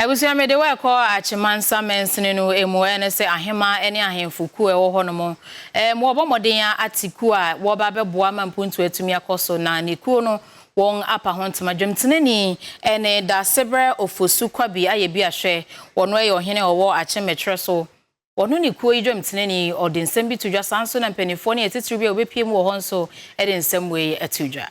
Abusua, mede wo rekɔ Akyemansa mansini no mu, ɛne sɛ aheman ne ahemfo kuo a ɛwɔ hɔ nom. Ɛɛm, wɔbɔ mmɔden ate kuo a wɔba bɛboa ma mpuntuo atumi akɔ so, na ne kuo no wɔn apa ho ntoma. Dwomtenani ɛne Daasebrɛ Ofosu Kwabi ayɛ bi a hwɛ, ɔno ɛyɛ ɔhene a ɔwɔ Akyemmɛkyerɛ so. Ɔno ne kuo yi dwomtenani, ɔde nsɛm bi to dwa, saa nso na mpaninfoɔ ne atitiriw bi a wɔbɛpue mu wɔ hɔ nso de nsɛm wei to dwa.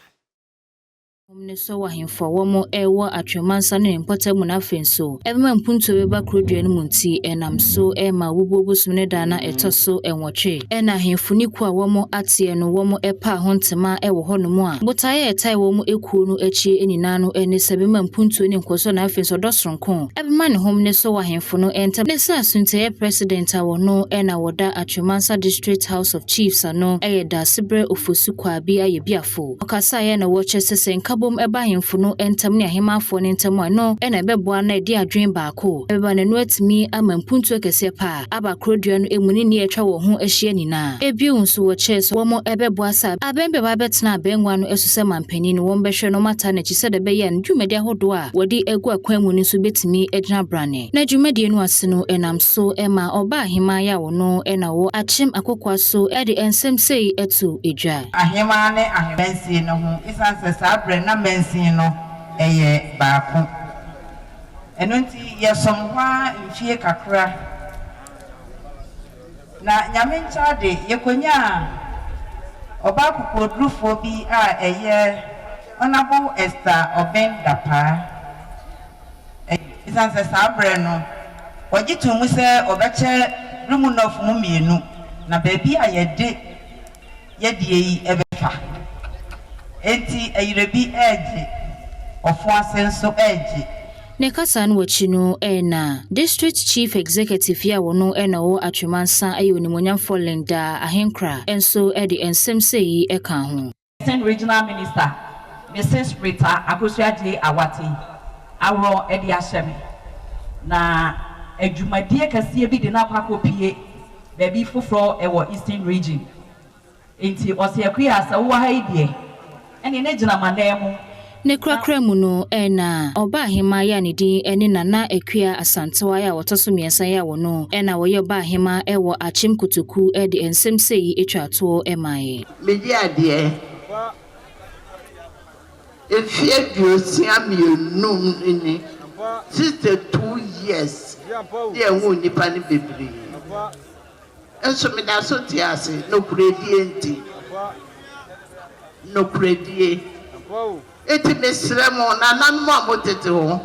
Hom no sɔw ahemfo a wɔwɔ wɔ Atweɔmansa no hɛn mpɔtam mu na afei so, bɛma mpontu a ɔbɛba Kurodua no mu ntsi, nam so ma wobubuo bosoom no da a na ɛtɔ so nwɔtwe. Nna ahemfo no kuw a wɔwɔ atseɛ no, wɔwɔ paa ho ntsema wɔ hɔnom a botae a ɛtae wɔn ekuo no akyi nyinaa no ne sɛ bɛma mpontuo ne nkɔsoɔ na afei so ɔdɔ soronko bɛma ne hom no sɔw ahemfo no ntam ne sɛ Assuntiaeɛ President a wɔno na wɔda Atweɔmansa District House of Chiefs ano yɛ Daasebrɛ Ofosu Kwaabi Ayɛbiafo. Fo. Ɔkasaeɛ na wɔkyerɛ sɛ sɛ nkabom ba ahemfo no ntam ne ahemmaafoɔ no ntam a, ɛno na ɛbɛboa na ɛde adwene baako bɛba na ɛno atumi ama mpuntuo kɛseɛ pa a aba korodua no mu ne nea atwa wɔn ho ahyia nyinaa. Bio nso wɔkyerɛɛ sɛ wɔbɛboa sɛ abɛn biara bɛtena abɛngua no so sɛ manpanin no, wɔbɛhwɛ na wɔataa no akyi sɛdeɛ ɛbɛyɛ a ne dwumadi ahodoɔ a wɔde agu akwan mu no nso bɛtumi agyina branne. Na dwumadie no ase no, ɛnam so ma ɔbaa ahemmaa yɛ a wɔno na ɔwɔ akyem akokoa so de nsɛm sei to dwa. Ahemmaa ne Ahemansin no ho esiane sɛ saa berɛ no na mansin no yɛ baako. Ɛno nti yɛsom hɔ ara mfie kakra na Nyame nkyɛ ade yɛkɔnyaa ɔbaa kokoɔdurufoɔ bi a ɛyɛ Honourable Esther Obeng Dapaah. Esiane sɛ saa berɛ no wɔgye too mu sɛ wɔbɛkyɛ Durumu North mu mmienu na baabi a yɛde yɛdeɛ yi bɛfa. Enti ayirabi regye, ɔfo ase nso regye. Ne kasa no akyi no na District Chief Executive yi a ɔno na ɔwɔ Atwemansa yɛ Onimuonyamfoɔ Linda Ahenkra nso de nsɛm sei kaa ho. Eastern Regional Minister Mrs Rita Akosua-Adjei Awate aworɔ de ahyɛ me na adwumadie kɛseɛ bi de no akɔ akɔpue Baabi foforɔ wɔ Eastern Region. Enti ɔse Akua sɛ wowɔ ha yi deɛ ɛneɛ na gyina m'anan mu Ne na. korakora mu no na Ɔbaahemaa yi a ne din ne Nana Akua Asantewaa a ɔtɔ so mmiɛnsa yi a ɔno na ɔyɛ Ɔbaahemaa wɔ Akyem Kotoku de nsɛm sei twaa toɔ maaeɛ. Megye adeɛ. Mfe aduosia mmienu no ni sixty two years ne ɛho nnipa no bebree nso meda so te ase nokoredie nti nokoredie enti mesrɛ mo nananom a mo tete hɔ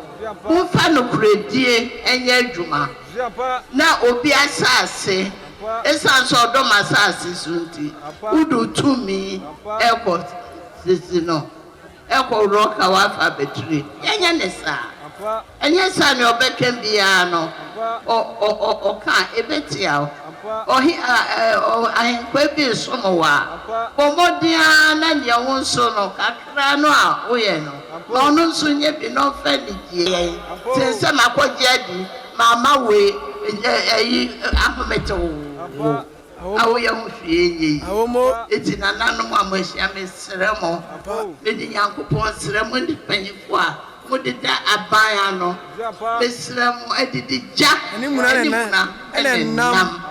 momfa nokoredie nyɛ adwuma na obi asase ɛsiane sɛ ɔdɔ m'asase so nti wode wo tumi ɛkɔ Sisi no kɔ worɔ ka wafa abɛtire yɛnyɛ ne saa ɛnyɛ saa nea ɔbɛka biara no ɔka a ɛbɛtia wo ahenkwaa bi resom wo a bɔ mmɔden ara na nea wo nso no kakra no a woyɛ no ma ɔno nso nyɛ bi na ɔmfa anigyeɛ yɛ sen sɛ makɔgye adi mamma wei ayi ahomete wo. Awo mo yɛ ho hwee nyɛ yi. Awo mo. Eti nananom a mo ahyia me srɛ mo, me de Nyankopɔn srɛ mo ne mpanyinfo a mo de da aban ano, me srɛ mo adidi gya, ne muna, ɛne nam.